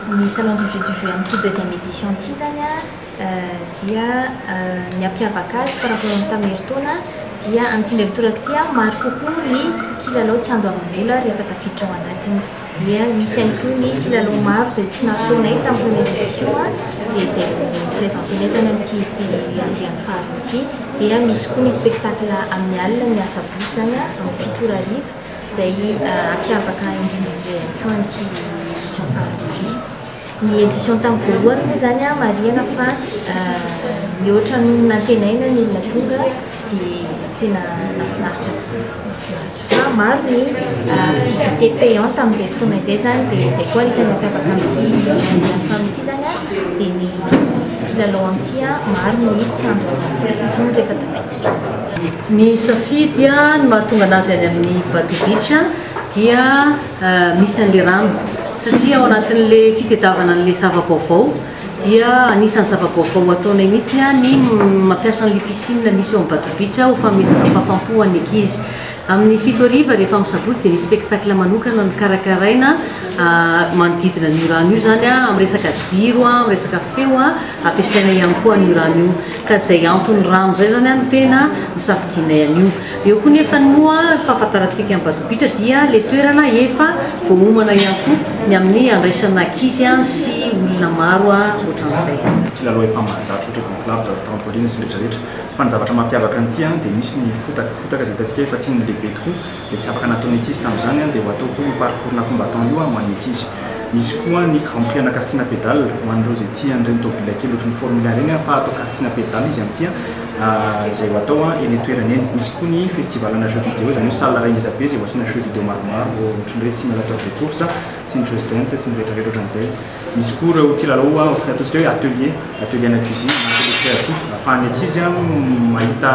Ny Salon du jeu du jeu amin'ity deuxième édition ity izany an, dia ny hampiavaka azy par rapport amin'ny tamin'ny herintaona dia amin'ity indray mitoraka ity an, maro kokoa ny kilalao tsy handoavam-bola rehefa tafiditra ao anatiny. Dia misy ihany koa ny kilalao maro izay tsy nafotoanay tamin'ny première édition an, dia izay ho présentenay izany amin'ity andiany faharoa ity. Dia misy koa ny spectacle amin'ny alina, ny asabotsy izany an, amin'ny fito ora hariva. Izay hampiavaka indrindra indrindra ihany koa an'ity edition faharoa ity. Ny edition tamin'ny voalohany moa izany marihana fa mihoatra ny nantenaina ny olona tonga dia tena nahafinaritra tokoa. Fa maro ny activité payante amin'izay fotoana izay izany dia izay koa isan'ny mampiavaka amin'ity edition faharoa ity izany dia ny mpilalao amin'ity maro ny tsy ampy vola intsony rehefa tafiditra. Ny safidy no mahatonga anazy any amin'ny Batu Beach dia misy an'ilay rano satria ao anatin'ilay fitedavana an'ilay zava-baovao dia anisan'ny zava-baovao ataonay mihitsy ny mampiasa an'ilay piscine misy ao amin'ny Batu Beach ho fanomezana fahafam-po an'ny ankizy. Amin'ny fito hariva rehefa amin'ny sabotsy dia misy spectacle manokana nokarakaraina manodidina an'io rano io izany amin'ny resaka jiro, amin'ny resaka feo ampiasaina ihany koa an'io rano io. Ka izay anton'ny rano izay izany no tena nisafidianay an'io. Eo koa nefa ny moa fahafantarantsika an'i Badobitra dia ilay toerana efa voaomana ihany koa ny amin'ny handraisana ankizy sy olona maro ohatran'izay. Kilalao efa mahazatra ohatra eto amin'ny Club daholo trampoline sy ny rehetra rehetra. Fa ny zavatra mampiavaka an'ity dia misy ny fotaka. Fotaka izay hitantsika efa tian'ny lehibe tokoa. izay tsy afaka nataon'ny ankizy tamin'izany dia ho atao koa io parcours la combattant io ho an'ny ankizy. Misy koa ny Grand Prix ana kartsina pedale ho an'ireo izay tia an'ireny tomobilina kely ohatry ny Formula ireny fa atao kartsina pedale izy amin'ity izay ho atao eny an-toerana eny. Misy koa ny festival ana jeux vidéo izany hoe salle iray ngeza be izay ho asiana jeux vidéo maromaro ohatry ny hoe simulateur de course sy ny just dance sy ny rehetra rehetra ohatran'izay. Misy koa ireo kilalao ohatran'ny ataontsika hoe atelier, atelier ana cuisine na atelier créatif ahafahan'ny ankizy mahita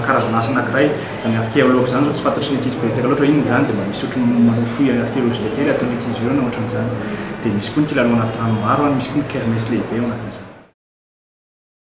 karazana asa anankiray, izany archéologue izany izao tsy fantatry ny ankizy betsaka loatra hoe inona izany dia mba misy ohatry ny manao fouille archéologique kely ataon'ny ankizy ireo na ohatran'ny izany, dia misy koa ny kilalao anaty rano maro, misy koa ny kermesse lehibe ao anatin'izany.